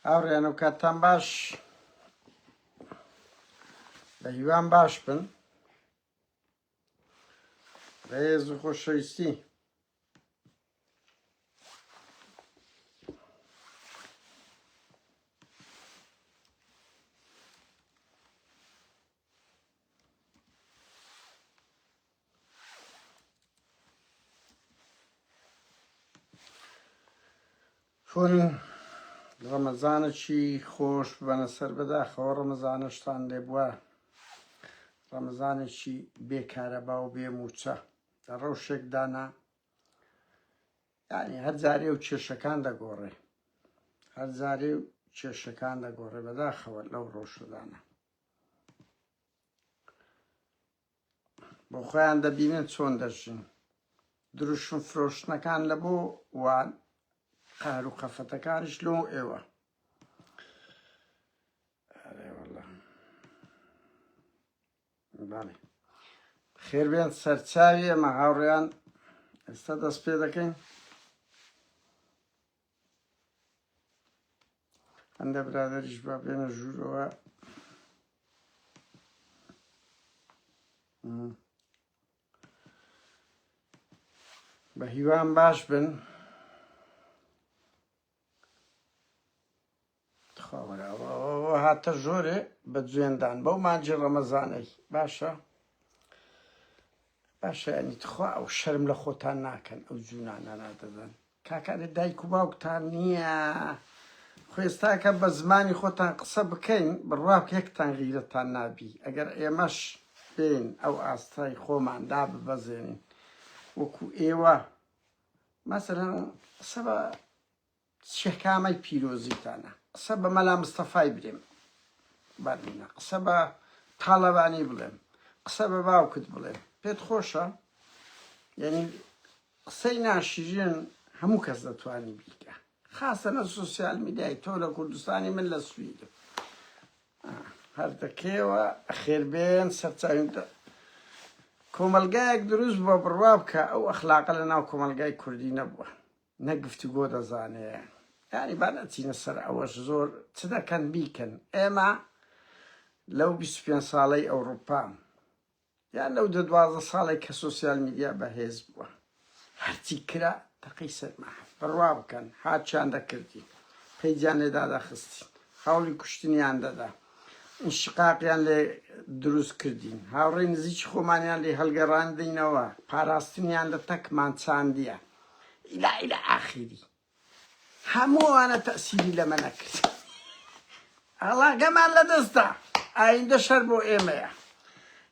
هاوڕێیان و کاتتان باش بە هیوان باش بن بەهێز و خۆشەویستی کون ڕەمەزانەکی خۆش بەنە سەر بەداخەوە ڕەمەزانەشتان لێ بووە ڕەمەزانێکی بێکارەبا و بێ موچە لە ڕەوشێک دانا ینی هەرجارێ و کێشەکان دەگۆڕێ هەرجارێ و کێشەکان دەگۆڕێ بەداخەوە لەو ڕۆژدانە بۆ خۆیان دەبینن چۆن دەژین دروشم فرۆشتنەکان لە بۆ وان قار و قەفەتەکانش لۆ ئێوە خێربێن سەرچاوی ئەمە هاوڕێیان ئێستا دەست پێ دەکەین هەندە برادریش با بێنە ژوورەوە بە هیوام باش بن تخوا وەرە ئەوە هاتە ژۆرێ بە جوێن دان بەو مانجی ڕەمەزانەی باشە باشە ینی تخوا ئەو شەرم لە خۆتان ناکەن ئەو جوونانە نادەدەن کاکانی دایک و باوکتان نییە خوێستاکە بە زمانی خۆتان قسە بکەین بڕواک یەکتان غیرەتان نابی ئەگەر ئێمەش بین ئەو ئاستای خۆمان دا ببەزێنین وەکو ئێوە مەسەرەن قسە بە چەکامەی پیرۆزیتانە قسە بە مەلا مستەفای برێم بەرنە قسە بە تاڵەبانی بڵێم قسە بە باوکت بڵێم پێت خۆشە یعنی قسەی ناشیرن هەموو کەس دەتوانانی بیکە خاستەنە سوسیال میدیای تۆ لە کوردستانی من لە سوید هەردەکەیەوە خێربێن سەرچوین کۆمەلگایەک دروست بە بڕوا بکە ئەو ئەخلاقە لە ناو کۆمەلگای کوردی نەبووە نە گفتوگۆ دەزانێ یانی با نەچینە سەر ئەوەش زۆر چ دەکەن بیکەن ئێمە لەو بیست و پێنج ساڵەی ئەوڕوپا یان لەو دە دوازدە ساڵێک کە سۆسیال میدیا بەهێز بووە هەرچی کرا تەقەی سەرما بڕوا بکەن هاچیان دەکردی پەیجیان لێ دادەخستین هەوڵی کوشتنیان دەدا شقاقیان لێ دروست کردین هاوڕێ نزیکی خۆمانیان لێ هەلگەڕاندینەوە پاراستنیان لە تەکمان چاندیە الی الی اخیری هەموو ئەوانە تەسیری لەمە نەکرد هەڵاگەمان لەدەستدا ئایندە شەر بۆ ئێمەیە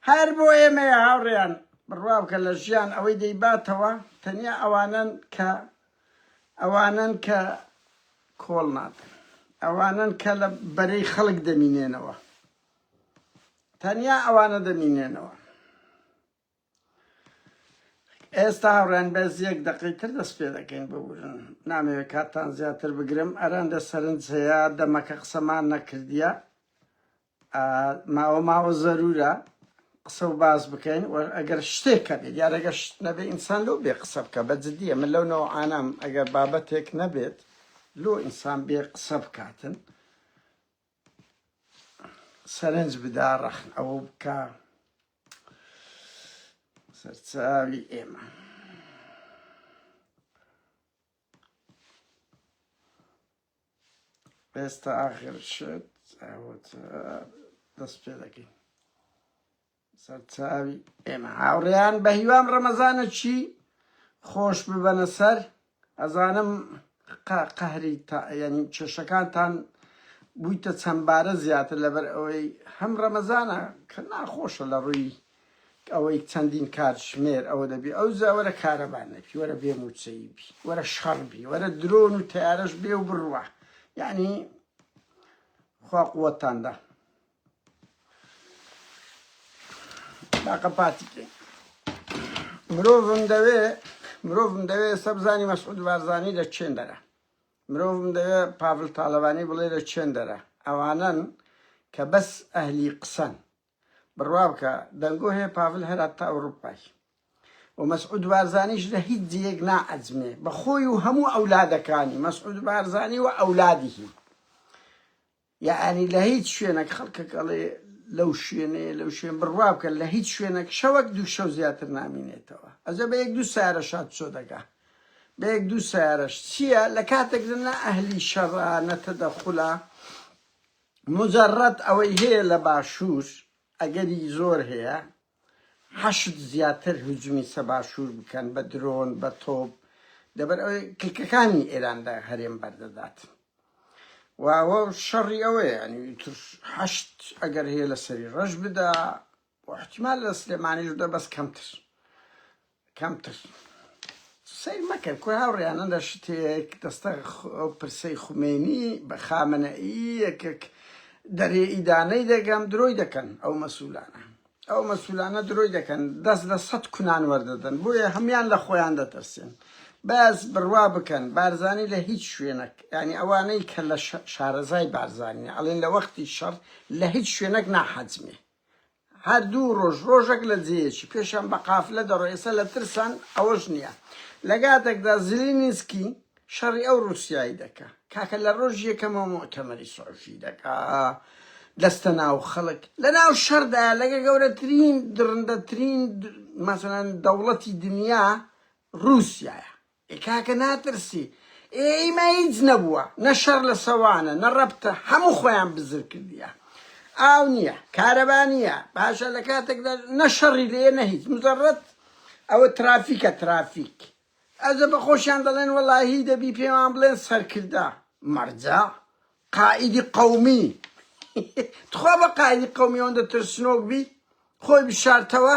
هەر بۆ ئێمەیە هاوڕێیان بڕوا بکە لە ژیان ئەوەی دەیباتەوە تەنیا ئەوانن کە ئەوانن کە کۆڵ نادن ئەوانن کە لە بەرەی خەڵک دەمینێنەوە تەنیا ئەوانە دەمینێنەوە ئێستا هاوڕێیان بەس یەک دەقەی تر دەست پێ دەکەین ببورن نامەوێت کاتتان زیاتر بگرم ئەرەن لە سەرنج هەیە دەمەکە قسەمان نەکردیە ماوە ماوە زەرورە قسە و باس بکەین و ئەگەر شتێکە بێت یارەگە شت نەبێ ئینسان لەو بێ قسە بکە بە جددیە من لەو نەوە ئانام ئەگەر بابەتێک نەبێت لۆ ئینسان بێ قسە بکاتن سەرنج بدا ڕەخن ئەوە بکە سەرچاوی ئێمە ئێستا ئاخر شت ئەوە دەست پێ دەکەین سەرچاوی ئێمە هاوڕێیان بەهیوام ڕەمەزانەکی خۆش ببەنە سەر ئەزانم قەهری یعنی کێشەکانتان بوویتە چەندبارە زیاتر لەبەر ئەوەی هەم ڕەمەزانە کە ناخۆشە لە ڕووی ئەوەی چەندین کات ژمێر ئەوە دەبی ئەو زەوەرە کارەبان نەبی وەرە بێ موچەی بی وەرە شەڕ بی وەرە درۆن و تارەش بێ و بڕوە یعنی خوا قوتاندا باقە پارتی بکەین مرۆڤم دەوێ مرۆڤم دەوێ ئێستا بزانی مەسعود بارزانی لە چێن دەرە مرۆڤم دەوێ پاڤل تاالبانی بڵێ لە چێن دەرە ئەوانن کە بەس ئەهلی قسەن بڕوا بکە دەنگۆ هەیە پاڤل هەرات تا ئەوروپای و مەسعود بارزانیش لە هیچ جێک نائەزمێ بەخۆی و هەموو ئەولادەکانی مەسعود بارزانی و ئەولادیهی یەعەنی لە هیچ شوێنەک خەڵکەک ئەڵێ لەو شوێنەیە لەو شوێن بڕوا بکە لە هیچ شوێنەک شەوەک دوو شەو زیاتر نامینێتەوە ئەزە بە یەک دوو سارە شاد چۆ دەگا بە یەک دوو سارەش چییە لە کاتێک نە ئەهلی شەڕە نەتە دەخولە مجرد ئەوەی هەیە لە باشوور ئەگەری زۆر هەیە حەشد زیاتر هجومی سە باشور بکەن بە درۆن بە تۆپ لەبەر ئەوەی کلکەکانی ئێران لە هەرێم بەردەدات و ئەوە شەڕی ئەوەیە ینی تر حەشت ئەگەر هەیە لە سەری ڕەش بدا و احتیمال لە سلێمانیش دە بەس کەمتر کەمتر سەیر مەکە کورە هاوڕێیانە لە شتێک دەستە ئەو پرسەی خومێنی بە خامنەئی یەکێک دەرێ ئیدانەی دەگەم درۆی دەکەن ئەو مەسولانە ئەو مەسولانە درۆی دەکەن دەست لە سەد کونان وەردەدەن بۆیە هەمان لە خۆیان دەترسێن بەس بڕوا بکەن بارزانی لە هیچ شوێنەک ینی ئەوانەی کە لە شارەزای بارزانانی ئەڵێن لە وەختی شەڕ لە هیچ شوێنەک ناحەجمێ هەر دوو ڕۆژ ڕۆژەک لە جێیەکی پێشیان بە قافلە دەڕۆ ئێستا لە ترسان ئەوەش نییە لە گاتەکدا زلینسکی شەڕی ئەو ڕوسیای دەکا کاکە لە ڕۆژ یەکەمەوە مۆتەمەری سۆفی دەکا دەستە ناو خەڵک لە ناو شەردا لەگە گەورەترین درندەترین مەسەن دەوڵەتی دنیا ڕوسایە ئێ کاکە ناترسی ئێ ئیمە هیچ نەبووە نە شەڕ لە سەوانە نە ڕەبتە هەموو خۆیان بزر کردیە ئاو نییە کارەبا نییە باشە لە کاتێکدا نە شەڕی لێ نە هیچ مزەڕەت ئەوە ترافیکە ترافیک ئەزە بە خۆشیان دەڵێن وەڵاهی دەبی پێمان بڵێن سەرکردە مەرجە قائیدی قەومی تخوا بە قائیدی قەومی ئەوەندە ترسنۆک بی خۆی بشارتەوە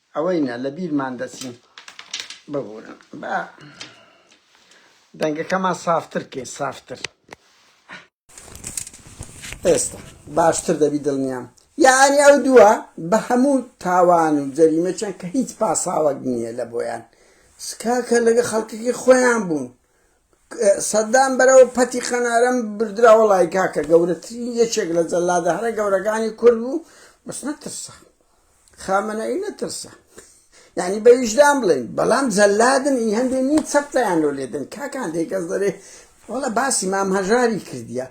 ئەوەی نا لە بیرمان دەچین. ببورن با دەنگەکەمان سافتر کەین سافتر. ئێستا باشتر دەبی دڵنیام. یەعنی ئەو دووە بە هەموو تاوان و جەریمەکیان کە هیچ پاساوەک نییە لە بۆیان. کاکە لەگە خەڵکەکەی خۆیان بوون. سەدام بەرەو پەتی قەنارم بردرا وەڵای کاکە گەورەترین یەکێک لە جەلادە هەرە گەورەکانی کورد بوو بەس نەترسا خامەنەی نەترسا یعنی بە ویژدان بڵێن بەڵام جەلادن ئی هەندێ نی چەپتەیان لۆ لێدن کاکان دێکەس دەرێ وەڵە باسی مام هەژاری کردیە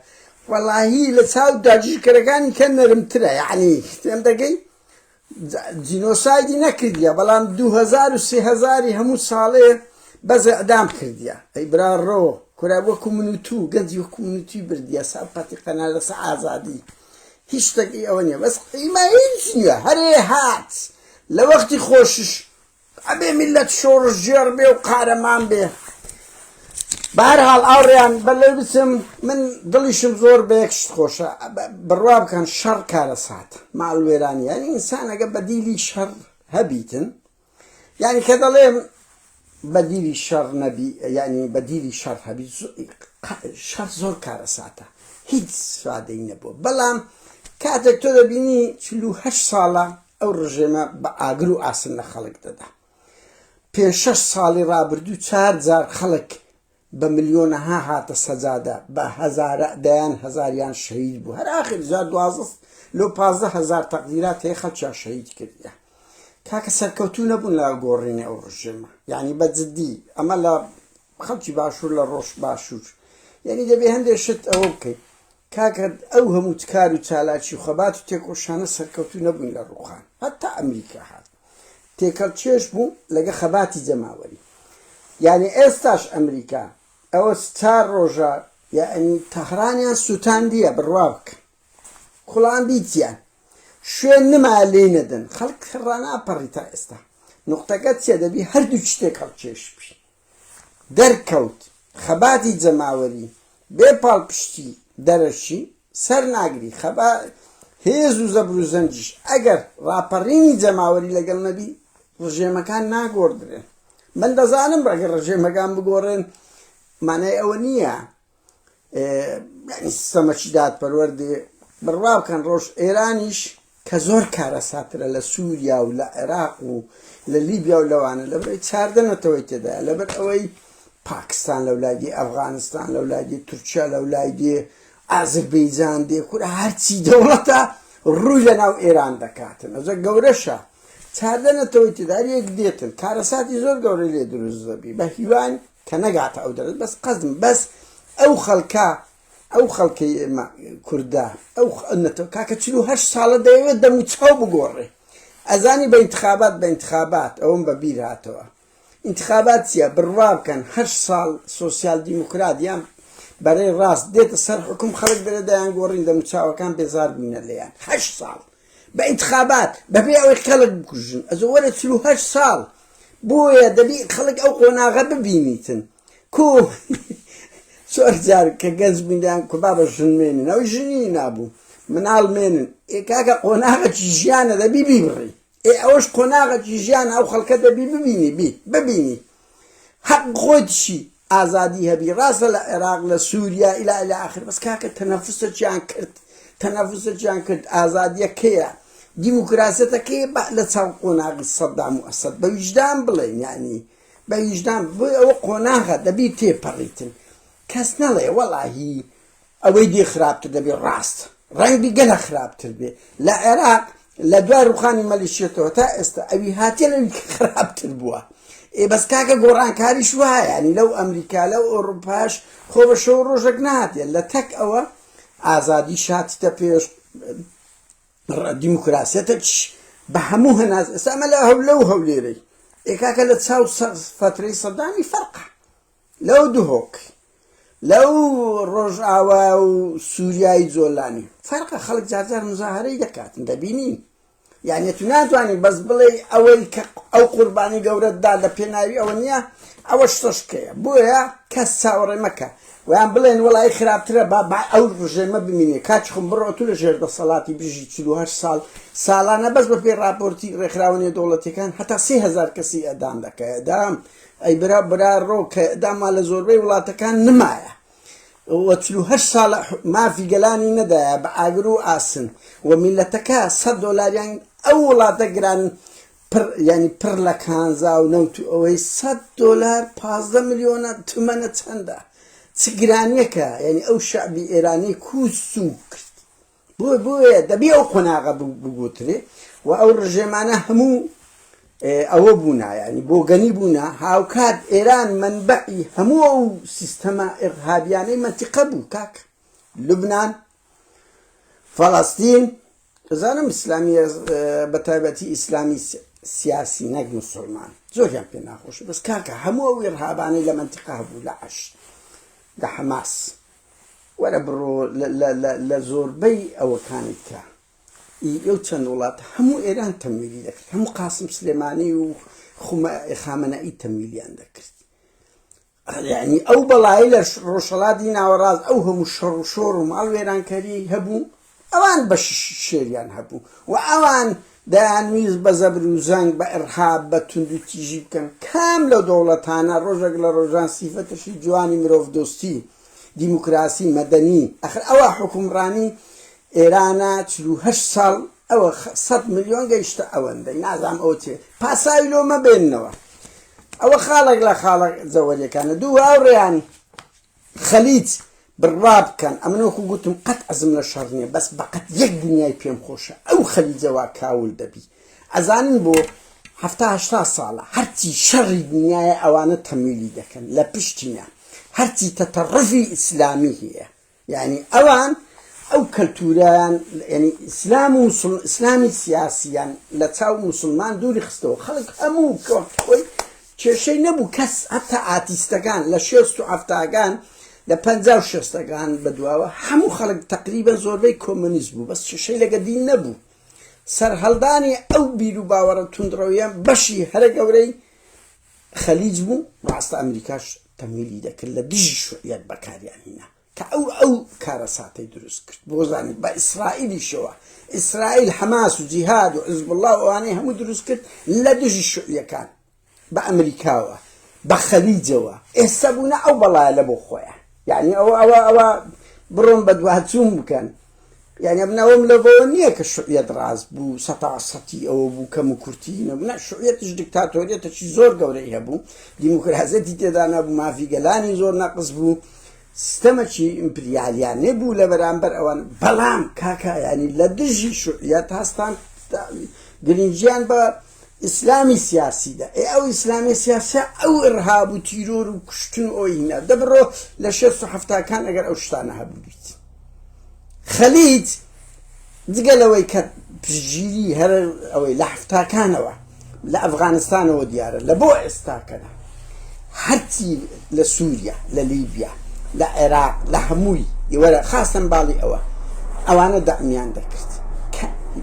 وەڵاهی لە چاو داگیرکەرەکانی کە نەرمترە یعنی تێم دەگەی جینۆسایدی نەکردیە بەڵام دوو هەزار و سێ هەزاری هەموو ساڵێ بەس ئیعدام کردیە ئەی برا ڕۆ کورە وەکو من و تو گەنجی وەکو من و توی بردیە ساقەتی قەنا لەسە ئازادی هیچ شتێکی ئەوە نیە بەس ئیمە هیچ نیە هەرێ هات لە وەختی خۆشیش ئەبێ میللەت شۆڕشگێڕ بێ و قارەمان بێ. بە هەر حاڵ ئاوڕیان بە لێ بچم من دڵیشم زۆر بە یەک شت خۆشە بڕوا بکەن شەڕ کارەسات ماڵوێرانی یانی ئینسانەگە بەدیلی شەڕ هەبیتن یعنی کە دەڵێم بەدیلی شەڕ نەبی یعنی بەدیلی شەڕ هەبی شەڕ زۆر کارەساتە هیچ سادەی نەبووە بەڵام کاتێک تۆ دەبینی چلوهشت ساڵە ئەو ڕژێمە بە ئاگر و ئاسن لە خەڵک دەدا. پێنج شەش ساڵی ڕابردوو چار جار خەڵک بە ملیۆنەها هاتە سەجادە، بە هەزارە دەیان هەزاریان شەهید بوو. هەر ئاخر جا دوازدە لۆ پازدە هەزار تەقدیرات هەیە خەڵکیان شەهید کردیە. کاکە سەرکەوتوو نەبوون لە گۆڕینی ئەو ڕژێمە. یانی بە جدی ئەمە لە خەڵکی باشور لە ڕۆژ باشور یەعنی دەبێ هەندێ شت ئەوە بکەین کاکە ئەو هەموو تکار و چالاکی و خەبات و تێکۆشانە سەرکەوتوو نەبوون لە ڕووخان هەتا ئەمریکا هات تێکەڵ چێش بوو لەگە خەباتی جەماوەری یعنی ئێستاش ئەمریکا ئەوە چار ڕۆژە یعنی تەهرانیان سووتاندیە بڕوا بکەن کوڵان بیتیان شوێن نما لێی نەدەن خەڵک ڕاناپەڕی تا ئێستا نقطەکە چێ دەبی هەردوو شتێک هەڵکێش بی دەرکەوت خەباتی جەماوەری بێ پاڵپشتی دەرەکی سەر ناگری، خەبا هێز و زەبر و زەنگیش ئەگەر ڕاپەڕینی جەماوەری لەگەڵ نەبی ڕژێمەکان ناگۆڕدرێن، من دەزانم ئەگەر ڕژێمەکان بگۆڕێن مانای ئەوە نییە، یعنی سیستەمەکی دادپەروەر دێ بڕوا بکەن ڕۆژ ئێرانیش کە زۆر کارەساترە لە سووریا و لە عێراق و لە لیبیا و لەوانە لەبەرەوەی چاردە نەتەوەی تێدا لەبەر ئەوەی پاکستان لەو لایدی ئەفغانستان لەو لایدی تورکیا لەو لایدی ئازربەیجان دێ کورە هەرچی دەوڵەتە ڕووی لە ناو ئێران دەکاتن ئەجە گەورەشە چاردە نەتەوەی تێدار یەک دێتن کارەساتی زۆر گەورە لێ دروست دەبی بە هیوان کە نەگاتە ئەو دەرەجە بەس قەزم بەس ئەو خەڵکە ئەو خەڵکەی ئێمە کوردە ئەو نەتەوە کاکە چلو هەشت ساڵە دەیەوێت دەموچاو بگۆڕێ ئەزانی بە انتخابات بە انتخابات ئەوم بە بیر هاتەوە انتخابات چیە بڕوا بکەن هەر ساڵ سوسیال دیموکرات یان بەرەی ڕاست دێتە سەر حکوم خەڵک دەرە دەیان گۆڕین دەموچاوەکان بێزار بوونە لێیان هەشت ساڵ بە ئینتخابات بەبێ ئەوەی خەڵک بکوژن ئەزۆ وەرە چل و هەشت ساڵ بۆیە دەبی خەڵک ئەو قۆناغە ببینیتن کو چۆر جار کە گەنج بوویان کو بابە ژن مێنن ئەو ژنی نابوو مناڵ مێنن ئێ کاکە قۆناغەکی ژیانە دەبی بیبڕی ئێ ئەوەش قۆناغەکی ژیان ئەو خەڵکە دەبی ببینی بی ببینی حەق خۆیتشی ئازادی هەبی ڕاستە لە عێراق لە سوریا الی الی اخر بەس کاکە تەنەفسەکیان کرد تەنەفسەکیان کرد ئازادیە کەیە دیموکراسەتەکەی لە چاو قۆناغی سەدام و ئەسەد بە ویژدان بڵێن یعنی بە ویژدان بۆی ئەوە قۆناغە دەبی تێپەڕیتن کەس نەڵێ وەڵاهی ئەوەی دی خراپتر دەبێ ڕاست ڕەنگبی گەلە خراپتر بێ لە عێراق لە دوای ڕوخانی مەلیشیەتەوە تا ئێستا ئەوی هاتیە لەوی خراپتر بووە ئێ بەس کاکە گۆڕانکاریش وایە ینی لەو ئەمریکا لەو ئۆڕوپاش خۆ بە شەو ڕۆژەک ناتێ لە تەک ئەوە ئازادی شاتتە پێش دیموکراسیەتەکش بە هەموو هەناز ئێستا ئەمە لە هەولە و هەولێرەی ئێکاکە لە چاو سەقز فترەی سەدامی فەرقە لەو دهۆک لەو ڕۆژئاوا و سوریای جۆلانی فەرقە خەڵک جارجار مزاهرەی دەکاتن دەبینین یعنی تو ناتوانانی بەس بڵێ ئەوەی کە ئەو قوربانی گەورەتدا لە پێناوی ئەوە نییە ئەوە شتەشکەیە بۆیە کەس چاوەڕێ مەکە ویان بڵێن وڵی خراپترە با با ئەو ڕژێمە بمینێ کاچ خم بڕۆ تو لە ژێر دەسەڵاتی بژی چه ساڵ ساڵانە بەس بە پێی راپۆرتی ڕێکخراوەنیە دەوڵەتەکان هەتا سهزار کەسی ئەدام دەکەدام ئەی برا برا ڕۆ کە داما لە زۆربەی وڵاتەکان نمایە و چل و هەشت ساڵە مافی گەلانی نەدایە بە ئاگر و ئاسن و میلەتەکە سەد دۆلاریان ئەو وڵاتە گران پر یعنی پر لە کانزا و نەوت و ئەوەی سەد دۆلار پازدە ملیۆنە تمەنە چەندە چ گرانیەکە یعنی ئەو شعبی ئێرانی کوس و کرد بۆیە دەبێ ئەو قۆناغە بگۆترێ و ئەو ڕژێمانە هەموو ئەوە بوونا یعنی بۆگەنی بوونا هاوکات ئێران منبعی هەموو ئەو سیستەما ئێغهابیانەی مەتیقە بوو کاک لبنان فەڵاستین بزانم ئیسلامی بە تایبەتی ئیسلامی سیاسی نەک مسلمان زۆریان پێ ناخۆش بەس کاکە هەموو ئەو ئێرهابانەی لە منتیقا بوو لە عش لە حەماس وەرە بڕۆ لە زۆربەی ئەوەکانت کە ئی ئەو چەند وڵات هەموو ئێران تەمویلی دەکرد هەموو قاسم سلێمانی و خامەنەئی تەمویلیان دەکرد ینی ئەو بەڵایی لە ڕۆژەڵاتی ناوەڕاست ئەو هەموو شەڕ و شۆڕ و ماڵ وێرانکەری هەبوو ئەوان بەشیشی شێریان هەبوو و ئەوان دەیانویست بە زەبر و زەنگ، بە ئیڕهاب، بە توندوتیژی بکەن. کام لەو دەوڵەتانە ڕۆژێک لە ڕۆژان سیفەتشی جوانی مرۆڤدۆستی، دیموکراسی، مەدەنی، ئەخر ئەوە حوکمڕانی ئێرانە چل و هەشت ساڵ ئەوە سەد ملیۆن گەیشتە ئەوەندەی نازانم ئەوە چێ پاساوی لۆ مەبێننەوە ئەوە خاڵێک لە خاڵە جەوەریەکانە دوو هاوڕێیان خەلیج بڕوا بکەن ئەمن وەکو گوتم قەت ئەزم لە شەڕ نییە بەس بەقەت یەک دنیای پێم خۆشە ئەو خەلیجەوا کاول دەبی ئەزانن بۆ هەفتا هەشتا ساڵە هەرچی شەڕی دنیاە ئەوانە تەمیلی دەکەن لە پشتینە هەرچی تەتەڕفی ئیسلامی هەیە یعنی ئەوان ئەو کەلتوریان ینی ئیسلام و ئیسلامی سیاسیان لە چاو مسلمان دووری خستەوە خەڵک هەموو کۆی کێشەی نەبوو کەس هەتا ئاتیستەکان لە شێست و حەفتاکان لە پەنجا و شێستەکان بە دواوە هەموو خەڵک تەقریبەن زۆربەی کۆمۆنیست بوو بەس کێشەی لەگە دین نەبوو سەرهەڵدانی ئەو بیر و باوەڕە توندڕەویە بەشی هەرە گەورەی خەلیج بوو ڕاستە ئەمریکاش تەمویلی دەکرد لە دژی شوعیەت بەکاریان هینا. کە ئەو ئەو کارەساتەی دروست کرد بۆ زانیت بە ئیسرائیلیشەوە ئیسرائیل حەماس و جیهاد و حزبوڵڵا و ئەوانەی هەموو دروست کرد لە دژی شوعیەکان بە ئەمریکاوە بە خەلیجەوە ئێستا بوونە ئەو بەڵایە لە بۆ خۆیان یعنی ئەوە ئەوە ئەوە بڕۆن بە دواتچوون بکەن یانی من ئەوەم لەبەوە نییە کە شوعیەت ڕاست بوو سەتا سەتی ئەوە بوو کەم و کورتی نەبوو نە شوعیەتیش دیکتاتۆریەتەکی زۆر گەورەی هەبوو دیموکراسەتی تێدا نەبوو مافی گەلانی زۆر نەقز بوو سیستەمەکی ئیمپریالیانێ بوو لە بەرامبەر ئەوان بەڵام کاکایانی لە دژی شوعیەت هەستان گرنگیان بە ئیسلامی سیاسی دە ئێ ئەو ئیسلامی سیاسە ئەو ڕهاب و تیرۆر و کوشتن و ئۆینا دەبڕۆ لە شێست و هەفتاکان ئەگەر ئەو شتانە هەبووبیت خەلیت جگە لەوەی کە پژگیری هەر ئەوەی لە هەفتاکانەوە لە ئەفغانستانەوە دیارە لە بۆ ئێستاکەدا هەرچی لە سوریا لە لیبیا لە عێراق لە هەمووی ئێوە خاستن باڵی ئەوە ئەوانە دەعمیان دەکرد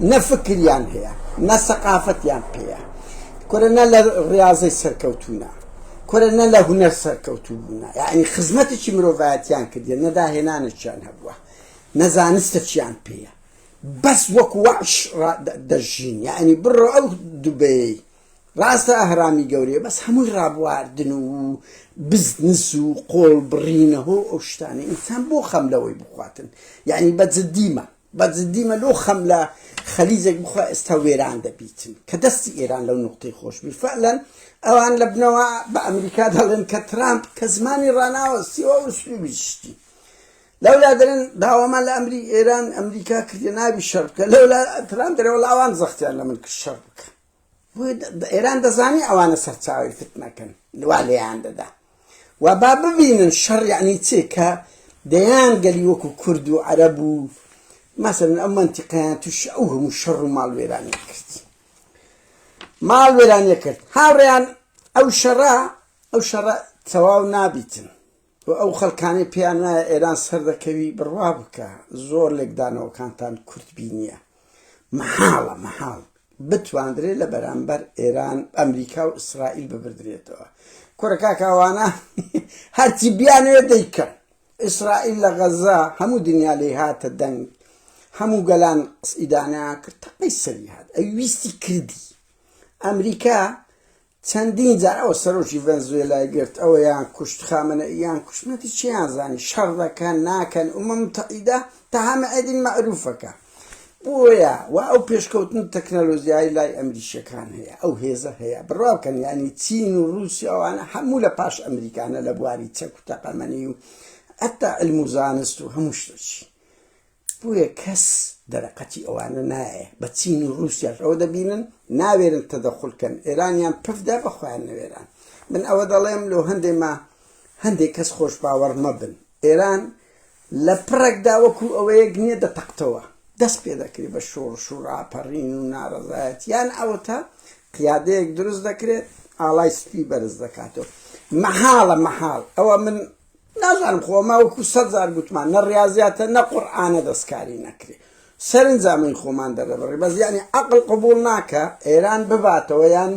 نە فکریان هەیە نە سەقافەتیان پێەیە کورە نە لە ڕاضی سەرکەوتونە کورە نە لە هوەر سەرکەوتوو بوونە یعنی خزمەتێکی مرۆڤایەتیان کردێن نەداهێنانێکیان هەبووە نەزانستە چیان پێیە بەس وەکو وەش دەژین یعنی بڕۆ ئەو دوبەی ڕاستە ئەهرامی گەورەیە بەس هەمووی ڕابواردن و بزنس و قۆڵ بڕینە هۆ ئەو شتانە ئینسان بۆ خەم لەوەی بخواتن یعنی بە جددیمە بە جددیمە لۆ خەم لە خەلیزێک بخوا ئێستا وێران دەبیتن کە دەستی ئێران لەو نقطەی خۆشببی فعلەن ئەوان لە بنەوە بە ئەمریکا دەڵێن کە ترامپ کە زمانی ڕناوە سیوە و سلوبی شتی لەولا دەرن داوامان لە ئەمری ئێران ئەمریکا کردە ناوی شەر بکە لەولا تران دەرەوە لاوان زەختیان لە من کرد شەر بکە ئێران دەزانی ئەوانە سەرچاوی فتنەکەن وا لێیان دەدا و با ببینن شەڕ یعنی چێ کە دەیان گەلی وەکو کورد و عەرەب و مەسەن ئەم منتیقیان توش ئەو هەموو شەڕ و ماڵ وێرانی کرد ماڵ وێرانیە کرد هاوڕێیان ئەو شەڕە ئەو شەڕە تەواو نابیتن و ئەو خەلکانەی پێیان وایە ئێران سەردەکەوی بڕوا بکە زۆر لێکدانەوەکانتان کورت بینیە مەحاڵە مەحاڵ بتواندرێت لە بەرامبەر ئێران ئەمریکا و ئیسرائیل ببردرێتەوە کورەکاکاوانە هەرچی بیانەوێت دەیکەن ئیسرائیل لە غەزە هەموو دنیا لی هاتە دەنگ هەموو گەلان قسئیدانیان کرد تەقەی سەری هات ئەوی ویستی کردی ئەمریکا چەندین جار ئەوە سەرۆکی ڤەنزوێلای گرت ئەوەیان کوشت خامەنەئیان کوشت نەتی چیان زانی شەڕ دەکەن ناکەن ئومم متحیدە تەها مەئەدین مەئروفەکە بۆیە وا ئەو پێشکەوتن تەکنەلۆژیای لای ئەمریشەکان هەیە ئەو هێزە هەیە بڕوا بکەن یعنی چین و رووسی ئەوانە هەموو لە پاش ئەمریکانە لە بواری چەک و تەقەمەنی و حتا علم و زانست و هەموو شتەچی بۆیە کەس دەرەقەتی ئەوانە نایێ بە چین و روسیاش ئەوە دەبینن ناوێرن تەدەخول کەن ئێرانیان پف دا بە خۆیان نەوێران من ئەوە دەڵێم لۆ هەندێ ما هەندێ کەس خۆش باوەڕ مەبن ئێران لە پڕێکدا وەکو ئەوەیەک نییە دەتەقتەوە دەست پێ دەکرێت بە شۆڕش و راپەڕین و ناڕەزایەت یان ئەوەتا قیادەیەک دروست دەکرێت ئاڵای سپی بەرز دەکاتەوە مەحاڵە مەحاڵ ئەوە من نازانم خۆ ئەمە وەکو سەد جار گوتمان نە ڕیازیاتە نە قورئانە دەستکاری نەکرێ سەرنجا من خۆمان دەرەبڕی بەس یعنی عقل قبول ناکە ئێران بباتەوە یان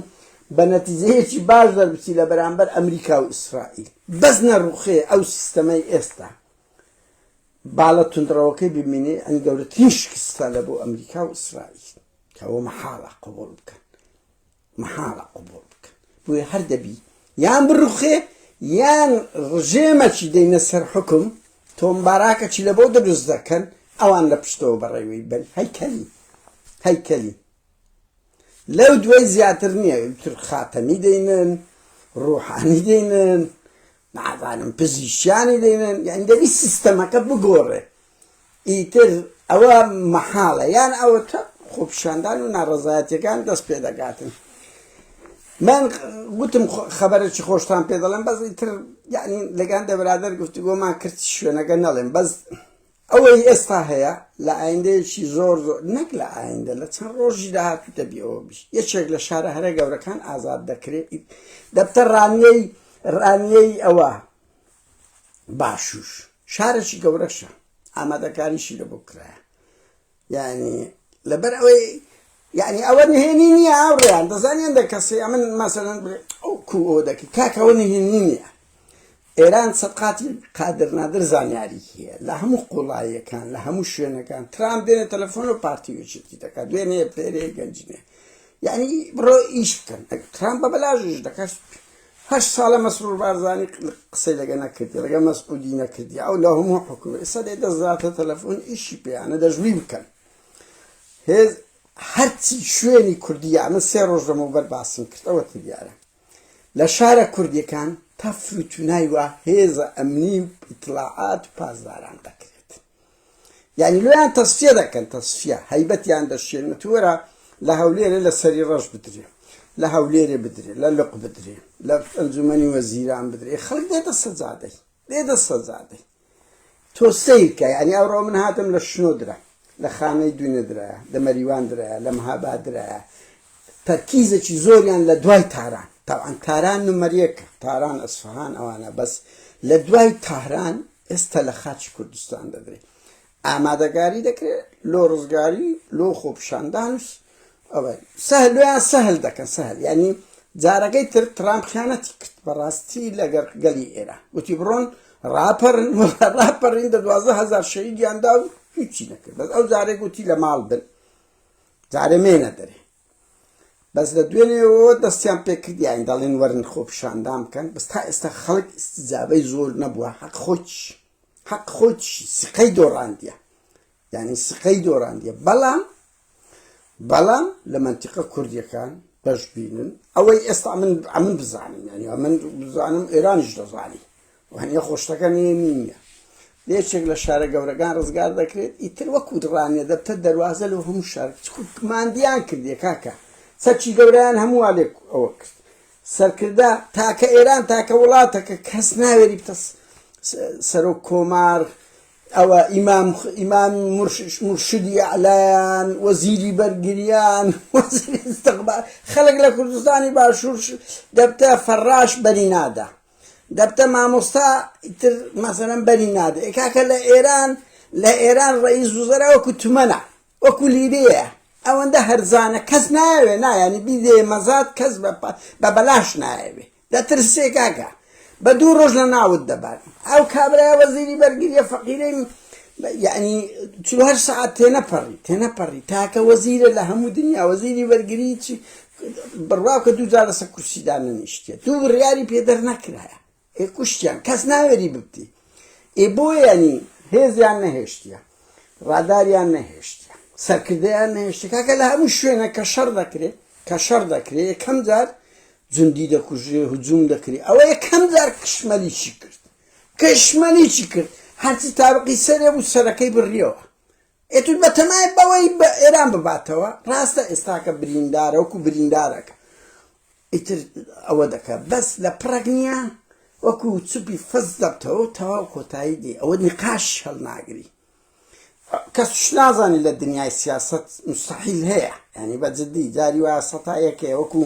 بە نەتیجەیەکی باش دەربچی لە بەرامبەر ئەمریکا و ئیسرائیل بەس نەڕوخێ ئەو سیستەمەی ئێستا باڵە تونندڕەوەکەی ببینێ ئەنی گەورەترین شکستە لە بۆ ئەمریکا و ئیسرائیل کەەوە مەحاڵە قبول بکەن مەحاڵە قبوڵ بکەن بۆیە هەر دەبی یان بڕوخێ یان ڕژێمەکی دەینە سەر حکم تۆم باراکەکی لە بۆ دروست دەکەن ئەوان لە پشتەوە بەڕێوەی بن هەیکەلی هەیکەلی لەو دوای زیاتر نییە تر خاتەمی دەینن ڕوحانی دەینن نازانم پزیشکیانی دەیڵێن یانی دەبی سیستەمەکە بگۆڕێ ئیتر ئەوە مەحاڵە یان ئەوە تە خۆپیشاندان و ناڕزایەتەکان دەست پێ دەگاتن من گوتم خەبەرێکی خۆشتان پێ دەڵێم بەس ئیتر یعنی لەگەن دەبرادەر گفتوگۆمان کرد شوێنەکە نەڵێم بەس ئەوەی ئێستا هەیە لە ئایندەیەکی زۆر زۆر، نەک لە ئایندە، لە چەند ڕۆژی داهاتوو دەبی ئەوە بیت. یەکێک لە شارە هەرە گەورەکان ئازاد دەکرێت، ئیت دەبتە ڕانیەی، ڕانیەی ئەوە، باشوور. شارێکی گەورەشە، ئامادەکاریشی لەبۆ کرایە. یانی لەبەر ئەوەی یعنی ئەوە نهێنی نییە هاوڕێیان دەزانانی هەندە کەسی ئەمن مەسەرەن ئەو کو ئەو دەکەی کاکەەوە نهێنی نییە ئێران سەدقاتی قادر نادر زانیاری هەیە لە هەموو قوڵایەکان لە هەموو شوێنەکان ترام دێنە تەلەفۆن و پارتی وچێتی دەکات دوێنێ پێرێ گەنجێ یعنی بڕۆ ئیش بکەن ترام بە بەلاژش دەکات هەشت سالە مەسرور بارزانی قسەی لەگە نەکردی ڕگە مەسعودی نەکردی ئەو لە هەموو حکوم ئێستا دێ دەزاتە تەلەفۆن ئیشی پێیانە دەژوی بکەن هێز هەرچی شوێنی کوردیە من سێ ڕۆژ لەمەوبەر باسم کرد ئەوە دیارە لە شارە کوردیەکان تەفروتونای وە هێزە ئەمنی و ئیتلاعات و پاسداران دەکرێت یانی لۆیان تەسفیە دەکەن تەسفیە هەیبەتیان دەشێن وتوەرە لە هەولێرێ لە سەری ڕەش بدرێ لە هەولێرێ بدرێ لە لق بدرێ لە ئەنجومەنی وەزیران بدرێ خەڵک دێتە سەجادەی دێتە سەجادەی تۆ سیرکە یعنی ئەوڕۆ من هاتم لە شنۆ درا لە خانەی دوینە درایە لە مەریوان درایە لە مەهابا درایە تەرکیزێکی زۆریان لە دوای تاران تاوان تاران نمەریەکە تاران ئەسفهان ئەوانە بەس لە دوای تاران ئێستا لە خاچی کوردستان دەدرێ ئامادەگاری دەکرێت لۆ ڕزگاری لۆ خۆپشاندان ئەوە سەهلویان سەهل دەکەن سەهل ینی جارەکەی تر ترامپ خیانەتی کرد بەڕاستی لەگەر گەلی ئێرە وتی بڕۆن ڕاپەرن ڕاپەرین دە دوازە هزار شەیدیاندا و هیچی نەکرد بەس ئەو جارێک وتی لە ماڵ بن جارێ مێنە دەرێ بەس لە دوێنێەوە دەستیان پێکردیان دەڵێن وەرن خۆپشاندان بکەن بەس تا ئێستا خەڵک ئستجابەی زۆر نەبووە حەق خۆچ حەق خۆچ سقەی دۆڕاندە یعنی سقەی دۆڕاندە بەڵام بەڵام لە منتیقە کوردیەکان بەش بینن ئەوەی ئێستا من ئەمن بزانم یعنی من بزانم ئێرانیش دەزانی وانیە خۆشتەکە نوێ نینیە لە یەکێک لە شارە گەورەکان ڕزگار دەکرێت ئیتر وەکو دڕانیە دەبتە دەروازە لەو هەموو شار ماندیان کردێ کاکە سەرچی گەوریان هەمووا لێک ئەوە کرد سەرکردە تاکە ئێران تاکە وڵاتەکە کەس ناوێری بتە سەرۆک کۆمار ئەوە ئیمام ئیمام مرشدی ئەلایان وەزیری بەرگریان خەڵک لە کوردستانی باشوور دەبتە فەڕاش بەری نادا دەبتە مامۆستا ئیتر مەسەلەن بەری نادە ئێ کاکە لە ئێران لە ئێران ڕئیس وزەرا وەکو تومەنە وەکو لیرەیە ئەوەندە هەرزانە کەس ناوێ نایانی بیدێ مەزات کەس بە بەلاش نایەوێ دەترسێ کاکە بە دوو ڕۆژ لە ناوت دەبات ئەو کابرای وەزیری بەرگریە فەقیرەی یعنی چهر سعات تێنەپەڕی تێنەپەڕی تاکە وەزیرە لە هەموو دنیا وەزیری بەرگری چی بڕواکە دوو جار لەسەر کورسی دانەنیشتێ دوو بڕیاری پێ دەرنەکرایە ئێ کوشتیان کەس ناوێری ببتی ئێ بۆیانی هێزیان نەهێشتە ڕاداریان نەهێشتە سەرکردیان نەهێشتە کاکە لە هەموو شوێنە کە شەڕ دەکرێت کە شەڕ دەکرێت یەکەم جار جندی دەکوژێ هجووم دەکرێت ئەوە یەکەم جار کشمەلیی کرد کشمەلیی کرد هەرچی تاوقی سەرێ بوو سەرەکەی بڕیەوە ئێتود بەتەمای بەوەی بە ئێران بباتەوە ڕاستە ئێستاکە بریندارە وەکو بریندارەکە ئیتر ئەوە دەکە بەس لە پڕەک نییە وەکو چپی فەز دەبتەوە تەواو کۆتایی دی ئەوە نقاش هەڵناگری کەس نازانێت لە دنیای سیاست مستحیل هەیە ینی بە جددی جاری وایە سەتا یەکێ وەکو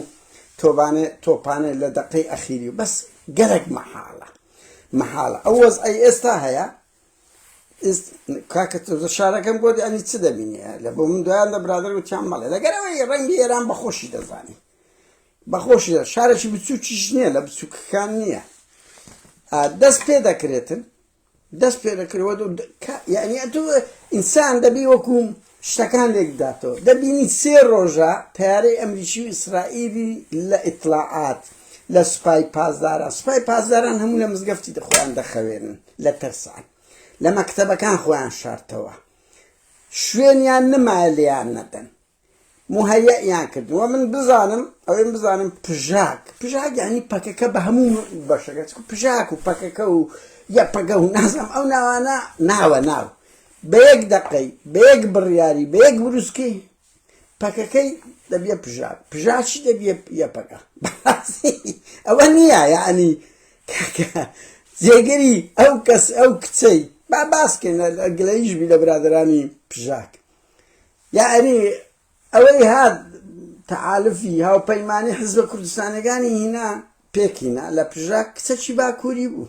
تۆبانێ تۆپانێ لە دەقەی ئەخیری بەس گەرەک مەحاڵە مەحاڵە ئەو وەز ئەی ئێستا هەیە کاکە تۆزە شارەکەم بۆ دەنی چ دەبینێ لە بۆ من دویان دە برادر وتیان مەڵێ لەگەرەوەی ڕەنگی ئێران بەخۆشی دەزانی بەخۆشی دە شارێکی بچووکیش نییە لە بچووکەکان نییە دەست پێ دەکرێتن دەست پێ دەکرەوە یعنی ئینسان دەبی وەکوم شتەکان لێک بداتەوە دەبینی سێ ڕۆژە تەیارەی ئەمریکی و ئیسرائیلی لە ئیتڵاعات لە سوپای پاسداران سوپای پاسداران هەموو لە مزگەفتی دەخۆیان دەخەوێنن لە ترسان لە مەکتەبەکان خۆیان شارتەوە شوێنیان نمایە لێیان نەدەن مهەیەیان کردووە من بزانم ئەوەی بزانم پژاک پژاک ینی پەکەکە بە هەموو بەشەکە پژاک و پەکەکە و یە پەگە و نازم ئەو ناوانە ناوە ناو بە یەک دەقەی، بە یەک بڕیاری، بە یەک بروسکەی پەکەکەی دەبیە پژا، پژا چی دەبیە یەپەگە، بەڕاستی ئەوە نیە یەعنی کاکە جێگری ئەو کەس ئەو کچەی با باسکەین گلەییش بی لە برادەرانی پژاک یەعنی. ئەوەی هات تەحالفی هاوپەیمانی حیزبە کوردستانیەکانی هینا پێک هینا لە پژاک کچەکی باکووری بوو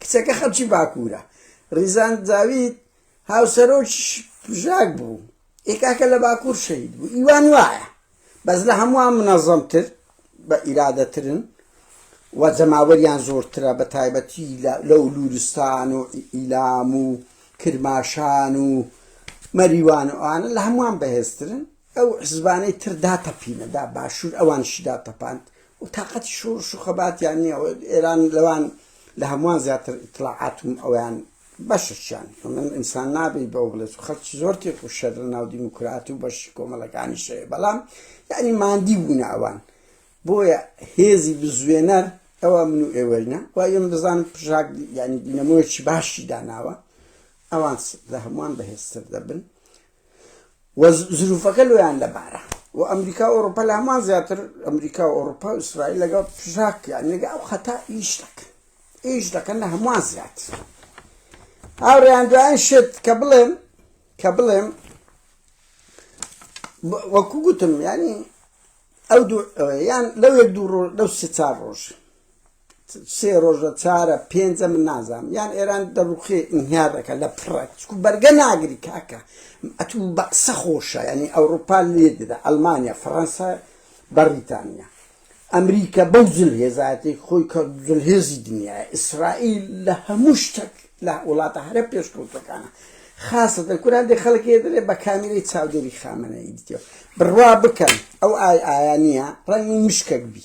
کچەکە خەڵکی باکوورە ڕیزان جاوید هاوسەرۆکی پژاک بوو ئێکاکە لە باکوور شەید بوو ئیوان وایە بەس لە هەمووان منەزەمتر بە ئیرادەترن و جەماوەریان زۆرترە بە تایبەتی لەو لورستان و ئیلام و کرماشان و مەریوان و ئەوانە لە هەمووان بەهێزترن ئەو حزبانەی تر داتەپینە دا باشوور ئەوانشی داتەپاند و تااقەتی شۆڕش و خەباتیان نییە ئێران لەوان لە هەمووان زیاتر ئیتلاعاتم ئەویان بەشە چیان من ئینسان نابی بەو بڵێت و خەڵکی زۆر تێک و شەر لە ناو دیموکرات و بەشی کۆمەڵەکانی شەیە بەڵام یعنی مادی بوونە ئەوان بۆیە هێزی بزوێنەر ئەوە من و ئێوەینە و ئێم بزانم پژاک ینی دینەمۆیەکی باشی داناوە ئەوان لە هەمووان بەهێزتر دەبن و زروفەکە لۆیان لەبارە و ئەمریکا و ئەوروپا لە هەمان زیاتر ئەمریکا و ئەوروپا و ئیسرائیل لەگەڵ پژاک یان لەگە ئەو خەتا ئیش دەکەن ئیش دەکەن لە هەمووان زیاتر هاوڕێیان دوایان شت کە بڵێم کە بڵێم وەکو گوتم ینی ئەو دوو یان لەو یەک دوو ڕۆژ لەو سێ چار ڕۆژ سێ ڕۆژە چارە پێنجە من نازام یان ئێران دەڕوخێ ئینهیار دەکە لە پڕە چکو بەرگە ناگری کاکە ئەتو بە قسە خۆشە ینی ئەوروپا لێ دەدا ئەلمانیا فەڕەنسا بەڕیتانیا ئەمریکا بەو جل هێزایەتی خۆی کە جل هێزی دنیا ئیسرائیل لە هەموو شتێک لە وڵاتە هەرە پێشکەوتەکانە خاصە کوران دێ خەڵک دەێ بە کامیری چاودێری خامنەی دیتێ بڕوا بکەن ئەو ئای ئایا نییە ڕەنگی مشکەک بی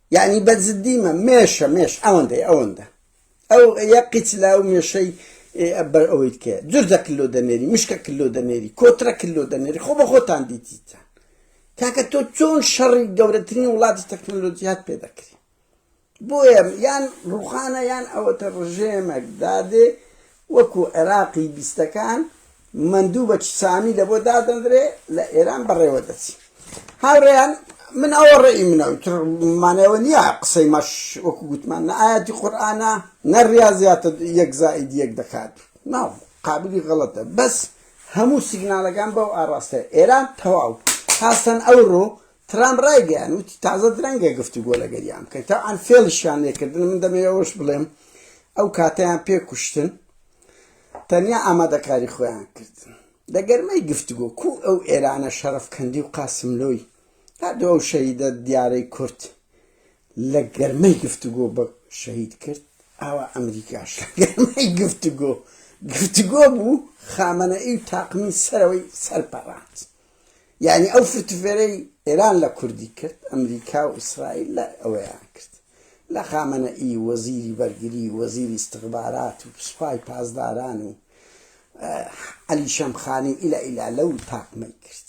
یەعنی بە جدی مە مێشە مێش ئەوەندەی ئەوەندە ئەو یە قیچ لا و مێشەی بەر ئەوەیت کە جوردە کللو دەنێری مشکە کللو دەنێری کۆترە کللو دەنێری خۆ بە خۆتان دیتیتان کاکە تۆ چۆن شەڕی گەورەترین وڵاتی تەکنەلۆجیات پێ دەکری بۆیە یان ڕوخانە یان ئەوەتە ڕژێمەک دادێ وەکو عێراقی بیستەکان مەندوو بە چسانی لە بۆ دادەندرێ لە ئێران بەڕێوە دەچی هاوڕێیان من ئەوە ڕێی منە تر مانای ئەوە نییە قسەی مەش وەکو گوتمان نە ئاەتی قورآانە نە ڕاضیاتە یەک زائید یەک دەکات ناو قابلی غەڵەتە بەس هەموو سیگنالەکان بەو ئاراستە ئێران تەواو هاسەن ئەوڕۆ ترامپ ڕایگەیاند، وتی تازە درەنگە گفتوگۆ لەگەریان بکەین، تەبعەن فێڵیشیان لێکردن، من دەمەوێت ئەوەش بڵێم ئەو کاتەیان پێ کوشتن، تەنیا ئامادەکاری خۆیان کردن لە گەرمەی گفتوگۆ، کوو ئەو ئێرانە شەڕەفکەندی و قاسملۆی، هەردوو ئەو شەهیدە دیارەی کورد لە گەرمەی گفتوگۆ بە شەهید کرد، ئاوا ئەمریکاش لە گەرمەی گفتوگۆ، گفتوگۆ بوو، خامەنەئی و تاقمی سەرەوەی سەرپەڕاند. یانی ئەو فرتفێرەی ئێران لە کوردی کرد ئەمریکا و ئیسرائیل لە ئەوەیان کرد لە خامەنە ئی وەزیری بەرگری وەزیری استخبارات و سوپای پاسداران و علی شەمخانی ئیلا ئیلا لەو تاقمەی کرد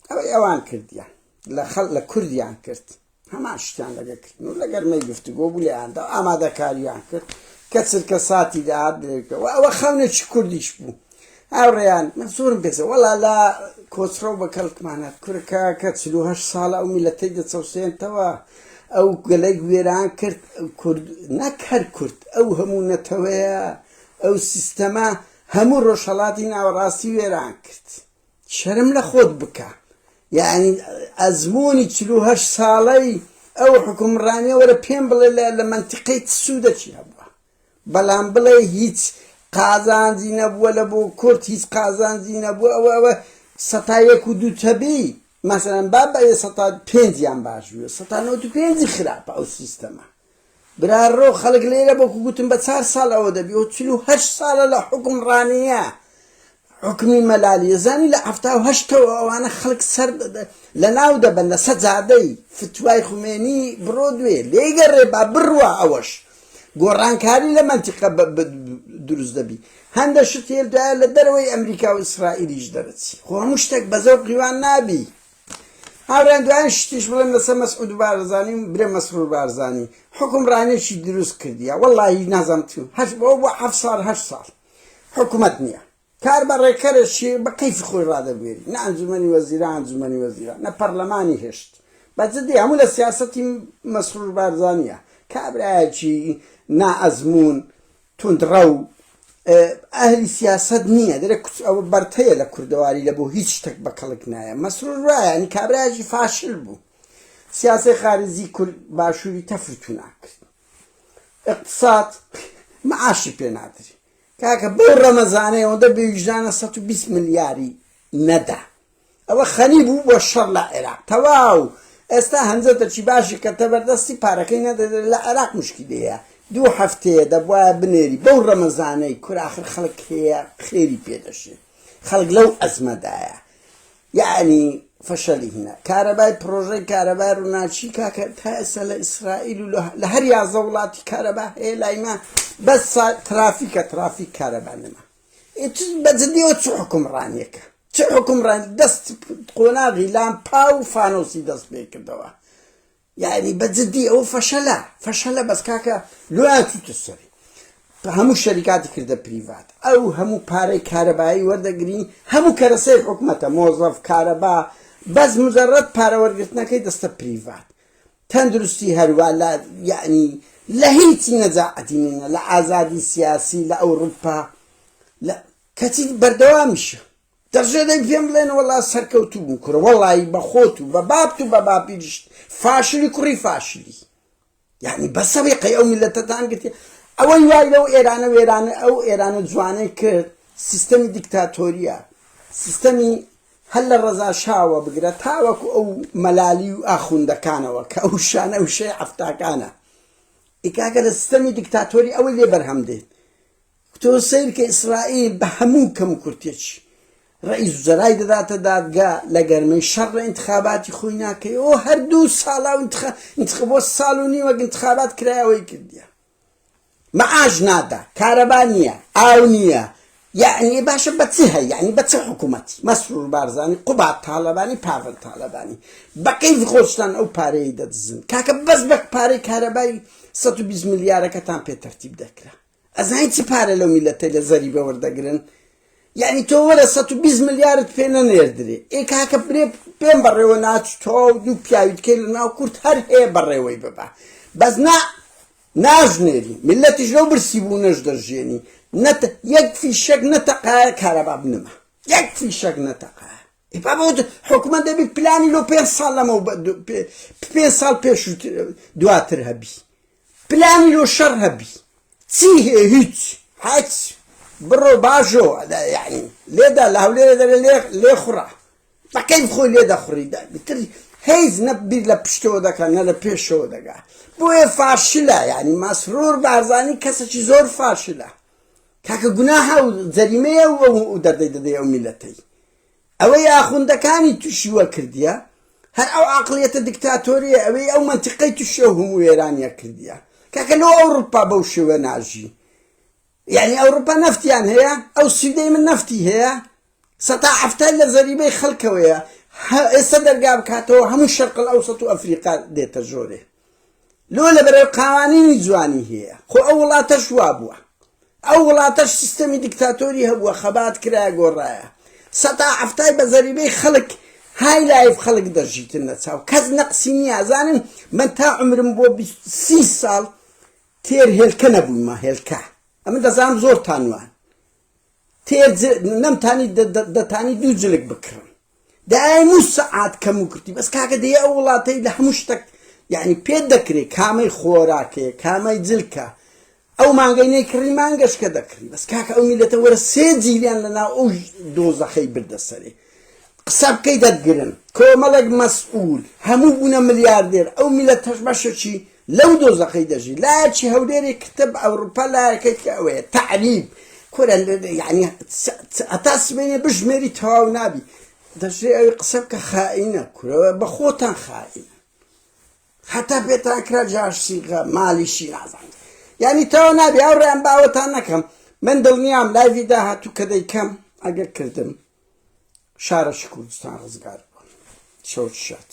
ئەوەی ئەوان کردیان لە خەڵ لە کوردیان کرد هەمان شتیان لەگە کردن و لەگەرمەی گفتوگۆ بوو لێیاندا ئامادەکاریان کرد کە چرکە ساتی داهات درێکەوە ئەوە خەونێکی کوردیش بوو هاوڕێیان من زۆرم پێزە وەڵا لە کۆچڕە و بە کەڵکمانات کورەکە کە چلوهش ساڵە ئەو میلەتەی دەچەوسێنتەوە ئەو گەلێک وێران کرد کورد نەک هەر کورد ئەو هەموو نەتەوەیە ئەو سیستەمە هەموو ڕۆژهڵاتی ناوەڕاستی وێران کرد شەرم لە خۆت بکە یەعنی ئەزموونی چل و هەشت ساڵەی ئەو حوکمڕانیە وەرە پێم بڵێ لە لە مەنتیقەی چ سوودەکی هەبووە بەڵام بڵێ هیچ قازانجی نەبووە لە بۆ کورد هیچ قازانجی نەبووە ئەوە ئەوە سەتا یەک و دوو تەبی مەسەلەن با بە سەتا پێنجیان باش بووە سەتا نەوەد و پێنجی خراپە ئەو سیستەمە برا ڕۆ خەڵک لێرە بەکو گوتم بە چار ساڵ ئەوە دەبی و چل و هەشت ساڵە لە حوکم ڕانیە حوکمی مەلالیە زانی لە حەفتا و هەشتەوە ئەوانە خەڵک سەر لە ناو دەبەن لە سەجادەی فتوای خومێنی بڕۆ دوێ لێگەڕێ با بڕوا ئەوەش گۆڕانکاری لە مەنتیقە دروست دەبی هەندە شت هێلدایە لە دەرەوەی ئەمریکا و ئیسرائیلیش دەرەچی خۆ هەموو شتێک بە زەوقیوان نابی هاوریان دوایین شتیش بڵێم لەسەر مەسعود بارزانی و برێ مەسرور بارزانی حکم رانێکی دروست کردیە وەڵاهی نازم تو هەش بۆ بۆ حەفت ساڵ هەشت ساڵ حکومەت نییە کار بە ڕێکەرەشی بە قەیف خۆی ڕادەبوێری نە ئەنجومەنی وەزیران ئەنجومەنی وەزیران نە پەرلەمانی هێشت بە جدی هەموو لە سیاسەتی مەسرور بارزانیە کابراایەکی نائەزمون توندڕەو ئەهلی سیاسەت نییە دەرێ کچ ئەوە بەرتەیە لە کوردەواری لە بۆ هیچ شتێک بە کەڵک نایە مەسرور وایە نی کابراژی فاشل بوو سیاسی خارجی کورد باشووری تەفرتو ناکرد اقتصاد معاشی پێ نادری کاکە بەو ڕەمەزانەی ئەوەندە بێویژدانە 120 ملیاری نەدا ئەوە خەنی بوو بۆ شەڕ لە عێراق تەواو ئێستا هەنجەتەکی باشی کەتە بەردەستی پارەکەی نەدەدرێت لە عێراق مشکیلەیە دوو هەفتەیە دەبوایە بنێری بەو ڕەمەزانەی کورە ئاخر خەڵک هەیە خێری پێ دەشێ خەڵک لەو ئەزمەدایە یعنی فەشەلی هینە کارەبای پرۆژەی کارەبای ڕووناچی کاکە تا ئێستا لە ئیسرائیل و لە هەر یازە وڵاتی کارەبا هەیە لای ما بەس ترافیکە ترافیک کارەبا نەما بەجدیەوە چ حکومڕانیەکە چ حوکمڕان دەست قۆناغی لامپا و فانۆسی دەست پێ کردەوە یعنی بە جدی ئەو فەشەلە فەشەلە بەس کاکە لۆیاتوتە سەری هەموو شەریکاتی کردە پریڤات ئەو هەموو پارەی کارەبایی وەردەگری هەموو کەرەسەی حکومەتە مۆزەف کارەبا بەس مجرڕەت پارەوەرگرتنەکەی دەستە پریڤات تەندروستی هەروە لە یعنی لە هیچی نەجاعەتی نینە لە ئازادی سیاسی لە ئەوروپا لە کەچی بەردەوامیشە دەشێ دەی پێم بڵێن وەڵا سەرکەوتوو بوو کورە وەڵایی بە خۆت و بە بابت و بە باپیریشت فاشلی کوڕی فاشلی یعنی بەسە وێقەی ئەو میلەتەتان گرتی ئەوەی وای لەو ئێرانە وێرانە ئەو ئێرانە جوانەی کرد سیستەمی دیکتاتۆریە سیستەمی هەر لە ڕەزا شاوە بگرە تاوەکو ئەو مەلالی و ئاخوندەکانەوە کە ئەو شانە وشەی عفتاکانە ئیکاکە لە سیستەمی دیکتاتۆری ئەوەی لێ بەرهەم دێت تۆ سەیرکە ئیسرائیل بە هەموو کەموکورتێکی ڕەئیس وزەرای دەداتە دادگا لە گەرمەی شەڕ ئینتخاباتی خۆی ناکەی ئۆ هەر دوو ساڵە و انتخا... انتخ... بۆ ساڵ و نیوەک انتخابات کرایەوەی کردیە معاش نادا کارەبا نییە ئاو نییە یعنی باشە بە چی هەیە یعنی بە چ حکوومەتی مەسرور بارزانانی قوبات تاالبانی پاڤل تاالبانی بەقەیف خۆشتان ئەو پارەیە دەدزن کاکە بەس بە پارەی کارەبای 120 ملیارەکەتان پێ تەرتیب دەکرا ئەزانی چ پارە لەو میلەتەی لە زەریبە وەردەگرن یعنی تۆ وەرە سەد و بیست ملیارت پێ نەنێردرێ ئێ کاکە برێ پێم بەڕێوە ناچ تۆ و دوو پیاوی دکەی لە ناو کورد هەر هەیە بەڕێوەی ببە بەس نا ناژنێری ملەتیش لەو برسی بوو نەش دەژێنی نەت یەک فیشەک نەتەقایە کارەبا بنەما یەک فیشەک نەتەقایە بابوت حکومە دەبی پلانی لۆ پێ ساڵ لەمە پێ ساڵ پێش دواتر هەبی پلانی لۆ شەڕ هەبی چی هەیە هیچ هەچ بڕۆ باژۆ یعنی لێدا لە هەولێرە دەرێ لێ لێ خوڕە بەکەیف خۆی لێ دەخوڕی بتر هیچ نە بیر لە پشتەوە دەکەن نە لە پێشەوە دەگا بۆیە فاشلە یعنی مەسرور بارزانی کەسێکی زۆر فاشلە کاکە گوناها و جەریمەیە و دەردەی دەدەی ئەو میلەتەی ئەوەی ئاخوندەکانی توشی وە کردیە هەر ئەو عەقڵیەتە دکتاتۆریە ئەوەی ئەو مەنتیقەی توشی ئەو هەموو وێرانیە کردیە کاکە لۆ ئەوڕوپا بەو شێوە ناژی یانی ئەوڕوپا نەفتیان هەیە ئەو سویدەی من نەفتی هەیە سەتا حەفتای لە زەریبەی خەلکەوەیە ئێستا دەرگا بکاتەوە هەموو شەرقل ئەوسەت و ئەفریقا دێتە ژۆرێ لۆ لەبەرەر قاوانینی جوانی هەیە خۆ ئەو وڵاتەش وابوە ئەو وڵاتەش سیستەمی دیکتاتۆری هەبوە خەبات کرایە گۆڕرایە سەتا حەفتای بە زەریبەی خەلک های لایف خەلک دەژیتن لە چاو کەس نەقسی نیە زانن من تا عمرم بۆ بیست سی سال تێر هێلکە نەبویمە هێلکە ئەمە دەزانم زۆر تانوان تێر نەمتانی دەتانی دوو جلک بکڕم دایە نو سەعات کەم و کورتی بەس کاکە دەیە ئەو وڵاتەی لە هەموو شتەک یعنی پێت دەکرێت کامەی خۆراکەیە کامای جلکە ئەو مانگەی نەیکڕی مانگەشکە دەکڕی بەس کاکە ئەو میلەتە وەرە سێ جیلیان لەناو ئەو دۆزەخەی بردە سەرێ قسە بکەی دەتگرن کۆمەڵێک مەسئول هەموو بوونە ملیاردێر ئەو میلەتەش بەشەکی لەو دۆزەخەی دەژی لایەکی هەولێری کتب ئەوروپا لایەکەی کە ئەوەیە تەعریب کورە یعنی ئەتا سبێنێ بژمێری تەواو نابی دەژێ ئەوی قسە بکە خائینە کورە بە خۆتان خائینە هەتا پێتان کرا جاشسیغە مالیشی نازان یعنی تەوا نابی ئەو ڕێیان باوەتان نەکەم من دڵنیام لایوی داهاتوو کە دەیکەم ئەگەر کردم شارە شکوردستان ڕزگار بوون شەوت شات